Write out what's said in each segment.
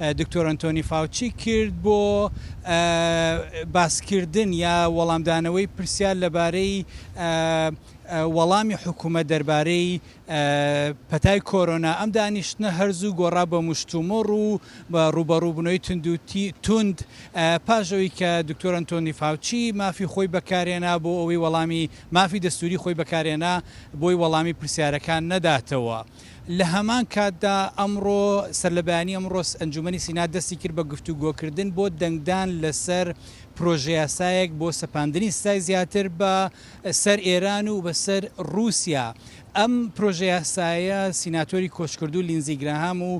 دکتۆر ئەنتۆنی فاوچی کرد بۆ باسکردن یا وەڵامدانەوەی پرسیار لەبارەی وەڵامی حکوومەت دەربارەی پەتای کۆرۆنا ئەم دانیشتنە هەرزوو گۆڕا بە مشتومڕ و بە ڕوبەڕووبنەوەی تندوتی توند پاشەوەی کە دکتۆر ئەنتۆنی فاوچی مافی خۆی بەکارێنا بۆ ئەوەی وەڵامی مافی دەستوری خۆی بەکارێنا بۆی وەڵامی پرسیارەکان نەداتەوە. لە هەمان کاتدا ئەمڕۆ سەرلەبەیانی ئەمڕۆس ئەنجومەنی سینا دەستی کرد بە گفتوگۆکردن بۆ دەنگدان لەسەر پرۆژەیاسایەک بۆ سەپاندنی سزای زیاتر بە سەر ئێران و بە سەر روسیا ئەم پرۆژەیاسایە سیناتۆری کۆچکردوو لینزی گراهام و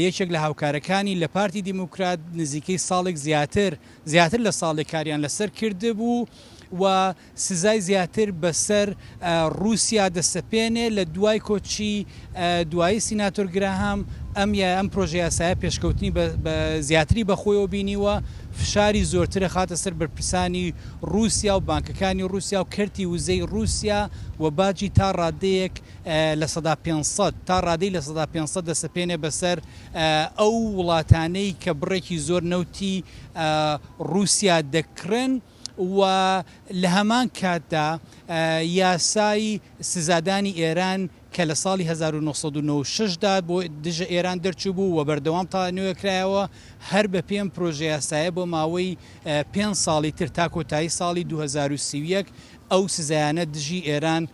یەکێک لە هاوکارەکانی لە پارتی دیموکرات نزیکەی ساڵێک زیاتر زیاتر لە ساڵێک کاریان لەسەر کردبوو و سزای زیاتر بەسەر ڕووسیا دەسەپێنێ، لە دوای کۆچی دوایی سیناتۆر گراهام، ئەم یا ئەم پرۆژەیاسایە پێشکەوتنی بە زیاتری بە خۆیەوە بینیوە، فشاری زۆرتر ئەخاتە سەر بەرپرسانی ڕووسیا و بانکەکانی ڕووسیا و کەرتی وزەی ڕووسیا و باجی تا ڕادەیەک لە سەدا پێنج سەد تا ڕادەی لە سەدا پێنج سەد دەسەپێنێ بەسەر ئەو وڵاتانەی کە بڕێکی زۆر نەوتی ڕووسیا دەکڕن. و لە هەمان کاتدا یاسای سزادانی ئێران کە لە ساڵی هەزار و نۆ سەد و نەوەد و شەش دا بۆ دژە ئێران دەرچووبوو و بەردەوام تا نوێ کرایەوە، هەر بەپێی ئەم پرۆژەیاسایە بۆ ماوەی پێنج ساڵی تر تا کۆتایی ساڵی دوو هەزار و سی و یەک ئەو سزایانە دژی ئێران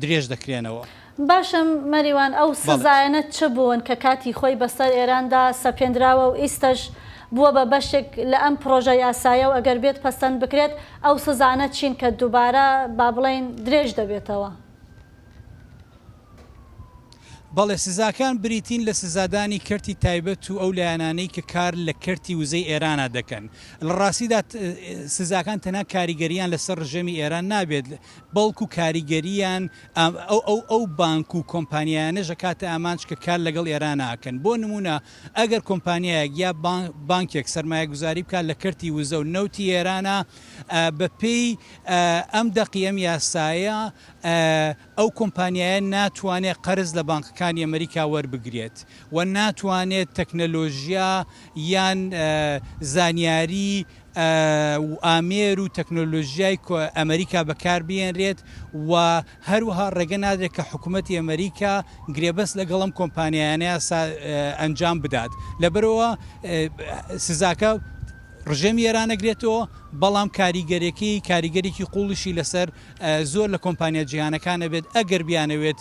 درێژ دەکرێنەوە. باشە مەریوان ئەو سزایەنە چ بوون کە کاتی خۆی بەسەر ئێراندا سەپێندراوە و ئیستەش بووە بە بەشێک لە ئەم پرۆژە یاسایە و ئەگەر بێت پەسەند بکرێت ئەو سزانە چین کە دوبارە با بڵێین درێژ دەبێتەوە؟ بەڵێ سزاکان بریتین لە سزادانی کەرتی تایبەت و ئەو لایەنانەی کە کار لە کەرتی وزەی ئێرانا دەکەن. لە ڕاستیدا سزاکان تەنها کاریگەریان لەسەر ڕژێمی ئێران نابێت، بەڵکو کاریگەرییان ئەو بانک و کۆمپانیایانەش ئەکاتە ئامانج کە کار لەگەڵ ئێرانا ئەکەن، بۆ نموونە ئەگەر کۆمپانیایەک یا بانکێک سەرمایەگوزاری بکات لە کەرتی وزە و نەوتی ئێرانا بەپێی ئەم دەقی ئەم یاسایە ئەو کۆمپانیایە ناتوانێت قەرز لە بانکەکانی ئەمریکا وەربگرێت و ناتوانێت تەکنەلۆژیا یان زانیاری و ئامێر و تەکنۆلۆژیای ئەمەریکا بەکار بهێنرێت و هەروەها ڕێگە نادرێت کە حکومەتی ئەمەریکا گرێبەست لەگەڵ ئەم کۆمپانیایانە ئەنجام بدات لەبەرەوە سزاکە ڕژێمی ئێران نەگرێتەوە بەڵام کاریگەرێکی کاریگەرێکی قوڵیشی لەسەر زۆر لە کۆمپانیا جیهانەکانە بێت ئەگەر بیانەوێت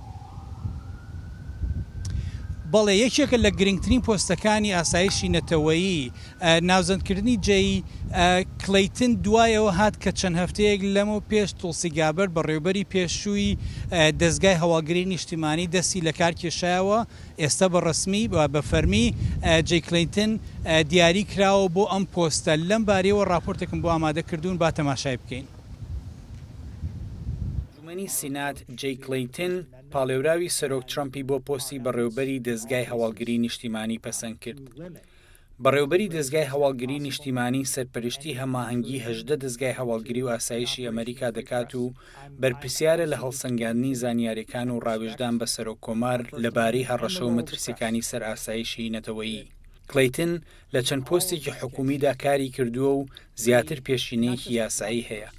بەڵێ یەکێکە لە گرنگترین پۆستەکانی ئاسایشی نەتەوەیی. ناوزەندکردنی جەی کلەیتن دوای ئەوە هات کە چەند هەفتەیەک لەمەو پێش تولسی گابەرد بەڕێوبەری پێشووی دەزگای هەواڵگری نیشتیمانی دەستی لەکار کێشایەوە ئێستا بە ڕەسمی بە فەرمی جەی کلەیتن دیاری کراوە بۆ ئەم پۆستە لەم باریەوە ڕاپۆرتێکم بۆ ئامادە کردوون با تەماشای بکەین. ئەنجومەنی سینات جەی کلەیتن پاڵێوراوی سەرۆک ترەمپی بۆ پۆستی بەڕێوبەری دەزگای هەواڵگری نیشتیمانی پەسەند کرد. بەڕێوبەری دەزگای هەواڵگری نیشتیمانی سەرپەرشتی هەماهەنگی هەژدە دەزگای هەواڵگری و ئاسایشی ئەمەریکا دەکات و بەرپرسیارە لە هەڵسەنگاندنی زانیاریەکان و ڕاوێژدان بە سەرۆک کۆمار لەبارەی هەڕەشە و مەترسیەکانی سەر ئاسایشی نەتەوەیی. کلەیتن لە چەند پۆستێکی حکومیدا کاری کردووە و زیاتر پێشینەیەکی یاسایی هەیە.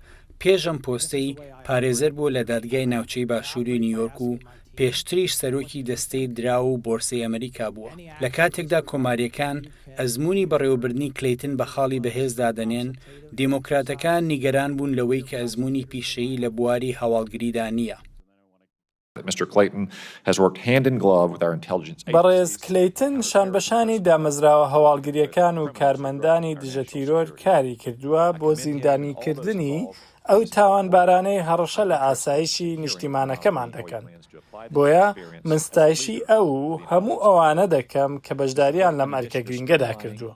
پێش ئەم پۆستەی، پارێزەر بووە لە دادگای ناوچەی باشووری نیویۆرک و پێشتریش سەرۆکی دەستەی دراو و بۆرسەی ئەمریکا بووە. لە کاتێکدا کۆمارییەکان ئەزموونی بەڕێوەبردنی کلەیتن بە خاڵی بەهێز دادەنێن، دێموکراتەکان نیگەران بوون لەوەی کە ئەزموونی پیشەیی لە بواری هەواڵگریدا نییە. بەڕێز کلەیتن شانبەشانی دامەزراوە هەواڵگرییەکان و کارمەندانی دژەتیرۆر کاری کردووە بۆ زیندانیکردنی ئەو تاوانبارانەی هەڕەشە لە ئاسایشی نیشتیمانەکەمان دەکەن، بۆیە من ستایشی ئەو و هەموو ئەوانە دەکەم کە بەشدارییان لەم ئەرکە گرنگەدا کردووە.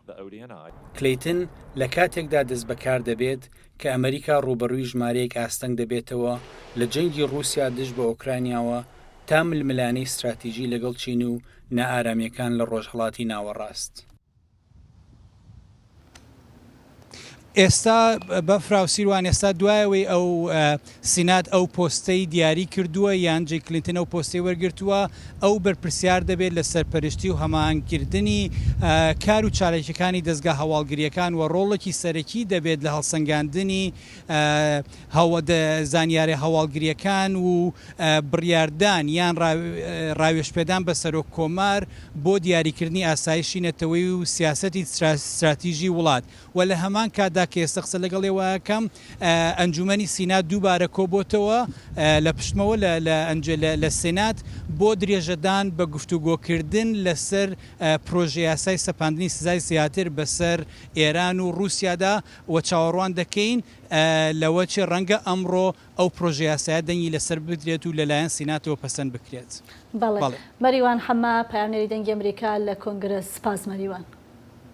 کلەیتن لە کاتێکدا دەستبەکار دەبێت کە ئەمەریکا ڕووبەڕووی ژمارەیەک ئاستەنگ دەبێتەوە لە جەنگی ڕووسیا دژ بە ئۆکرانیاوە تا ململانێی ستراتیژی لەگەڵ چین و نائارامییەکان لە ڕۆژهەڵاتی ناوەڕاست. ئێستا بەفرا و سیروان ئێستا دوایەوەی ئەو سینات ئەو پۆستەی دیاری کردووە یان جەی کلینتن ئەو پۆستەی وەرگرتووە، ئەو بەرپرسیار دەبێت لە سەرپەرشتی و هەماهەنگکردنی کار و چالاکییەکانی دەزگا هەواڵگرییەکان و ڕۆڵێکی سەرەکی دەبێت لە هەڵسەنگاندنی زانیارییە هەواڵگرییەکان و بڕیاردان یان ڕاوێژپێدان بە سەرۆک کۆمار بۆ دیاریکردنی ئاسایشی نەتەوەیی و سیاسەتی ستراتیژی وڵات و لە هەمان کاتدا کە ئێستا قسە لەگەڵ ئێوە ئەکەم ئەنجوومەنی سینات دووبارە کۆبۆتەوە لە پشتمەوە لە سینات بۆ درێژەدان بە گفتوگۆکردن لەسەر پرۆژەیاسای سەپاندنی سزای زیاتر بەسەر ئێران و ڕووسیادا و چاوەڕوان دەکەین لەوە چێ ڕەنگە ئەمڕۆ ئەو پرۆژەیاسایە دەنگی لەسەر بدرێت و لەلایەن سیناتەوە پەسەند بکرێت. بەڵێ. مەریوان حەمە، پەیامنێری دەنگی ئەمریکا لە کۆنگرە. سپاس مەریوان.